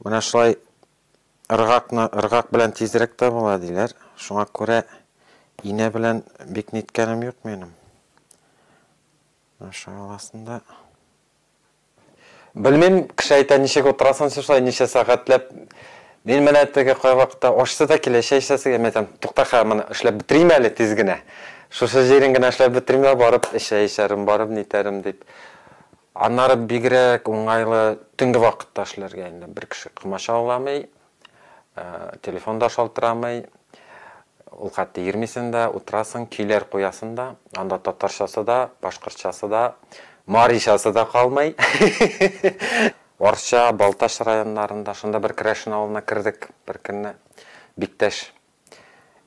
Менә шулай ыргакны ыргак белән тизрәк тә була диләр. Шуңа күрә инә белән бик ниткәнем юк минем. Аша аласында. Белмим, кеше әйтә, ничек утырасын син шулай, ничә сәгатьләп. Мин менә теге кайвакытта ашсы да килә, чәй эчәсе килә, мин әйтәм, тукта хә, моны эшләп бетерим әле тиз генә. Шушы җирен генә эшләп бетерим дә барып чәй эчәрем, барып нитәрем дип. Аннары бигрәк уңайлы төнге вакытта эшләргә инде. Бер кеше комача уламый, телефон да шалтырамый, ул хәтта йөрмисең дә, утырасың, көйләр куясың да, анда татарчасы да, башкортчасы да, маричасы да калмый. Арча, Балтач районнарында, шунда бер Керәшен авылына кердек беркөнне, Биктәш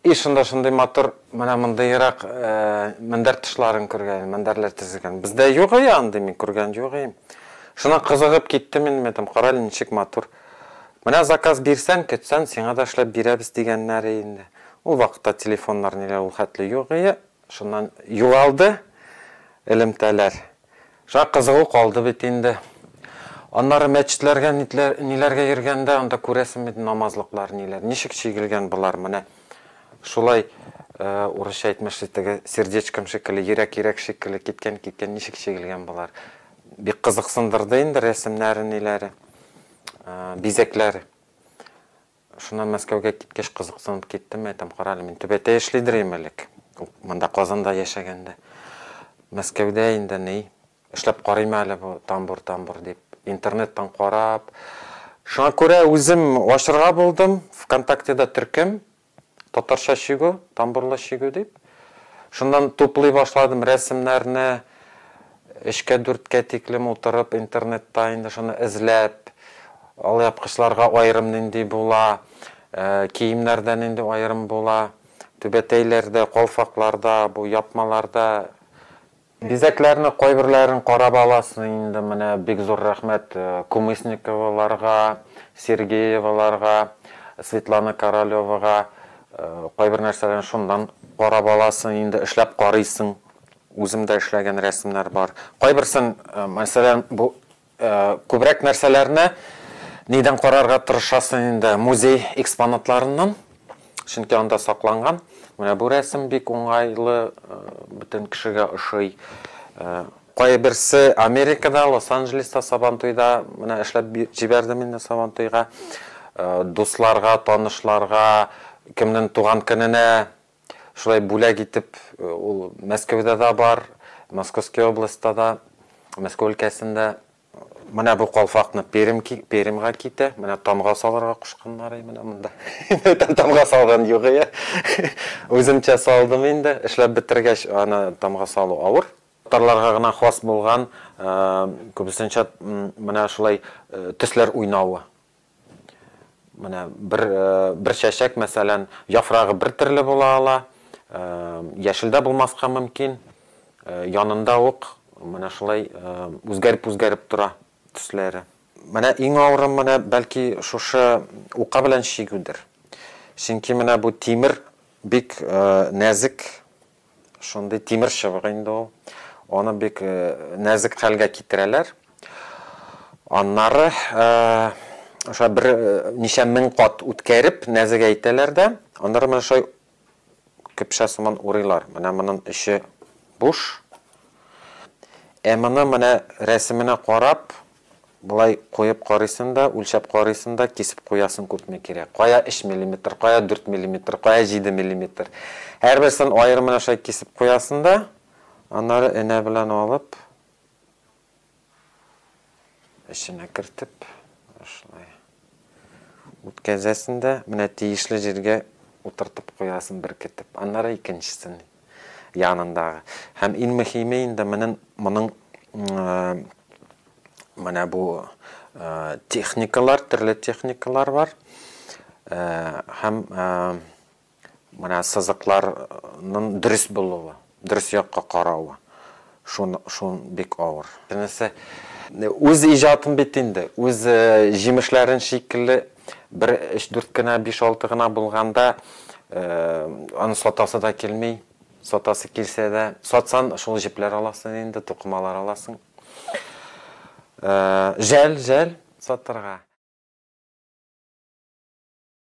И шунда шундый матур менә мондыйрак мендәр тышларын күргән идем, мендәрләр тезелгән. Бездә юк ие андый, мин күргән юк ием. Шуннан кызыгып киттем инде, мин әйтәм, карале ничек матур. Менә заказ бирсәң, көтсәң, сиңа да эшләп бирәбез, дигәннәр ие инде. Ул вакытта телефоннар ниләр ул хәтле юк ие. Шуннан югалды элемтәләр. Шәп кызыгу калды бит инде. Аннары мәчетләргә ниләргә йөргәндә, анда күрәсең бит намазлыклар ниләр. Ничек чигелгән болар менә. Шулай урысча әйтмешли теге сердечком шикелле, йөрәк-йөрәк шикелле киткән-киткән ничек чигелгән болар. Бик кызыксындырды инде рәсемнәре ниләре, бизәкләре. Шуннан Мәскәүгә киткәч кызыксынып киттем, әйтәм, кара әле, мин Түбәтәй эшлидер идем элек, монда Казанда яшәгәндә. Мәскәүдә инде ни, эшләп карыйм әле бу тамбур-тамбур дип, интернеттан карап, шуңа күрә үзем ачырга булдым, ВКонтактеда төркем, Татарча чигү, тамбурлы чигү дип. Шуннан туплый башладым рәсемнәрне, өчкә-дүрткә тиклем утырып интернетта инде шуны эзләп, алъяпкычларга аерым нинди була, киемнәрдә нинди аерым була, түбәтәйләрдә, калфакларда, бу япмаларда Бизәкләрне кайберләрен карап аласы инде менә бик зур рәхмәт Кумысниковаларга, Сергееваларга, Светлана Королевага кайбер нәрсәләрен шуннан карап аласы инде эшләп карыйсың үзем дә эшләгән рәсемнәр бар кайберсен мәсәлән бу Күбрәк нәрсәләрне нидән карарга тырышасың инде? Музей экспонатларыннан, чөнки анда сакланган. Менә бу рәсем бик уңайлы, бөтен кешегә ошый. Кайберсе Америкада, Лос-Анджелеста Сабантуйда, менә эшләп җибәрдем инде Сабантуйга. Дусларга, танышларга, кемнең туган көненә Шулай бүләк итеп, ул Мәскәүдә дә бар, Московский областьта да, Мәскәү өлкәсендә. Менә бу калфакны Пермь, Пермьгә китә. Менә тамга салырга кушканнары менә монда. Тамга салган юк ия. Үземчә салдым инде. Эшләп бетергәч, аны тамга салу авыр. Татарларга гына хас булган, күбесенчә менә шулай төсләр уйнавы. Менә бер, бер чәчәк, мәсәлән, яфрагы бер төрле була ала, яшелдә булмаска мөмкин, янында ук менә шулай үзгәреп-үзгәреп тора төсләре. Менә иң авыры менә бәлки шушы ука белән чигүдер. Чөнки менә бу тимер бик нәзек Шундый тимер чыбык инде ул. Аны бик нәзек хәлгә китерәләр. Аннары ошо бер ничә мең кат үткәреп, нәзегәйтәләр дә, аннары менә шулай көпшә сыман урыйлар. Менә моның эче буш. Ә моны менә рәсеменә карап, Болай куеп карыйсың да, үлчәп карыйсың да, кисеп куясың күпме кирәк. Кая өч миллиметр, кая дүрт миллиметр, кая җиде миллиметр. Һәрберсен аерым менә шулай кисеп куясың да, аннары энә белән алып, эченә кертеп, шулай. Үткәзәсен дә, менә тиешле җиргә утыртып куясын беркетеп, аннары икенчесен янындагы. Һәм иң мөһиме инде менен моның менә бу техникалар, төрле техникалар бар. Һәм Менә сызыкларның дөрес булуы, дөрес якка каравы, шун, шун бик авыр. Энесе үз иҗатын бит инде, үз җимешләрен шикелле бер өч-дүрт кенә, биш-алты гына булганда, аны сатасы да килми, сатасы килсә дә, сатсан, шул җепләр аласың инде, тукымалар аласың. Жәл, жәл сатырга.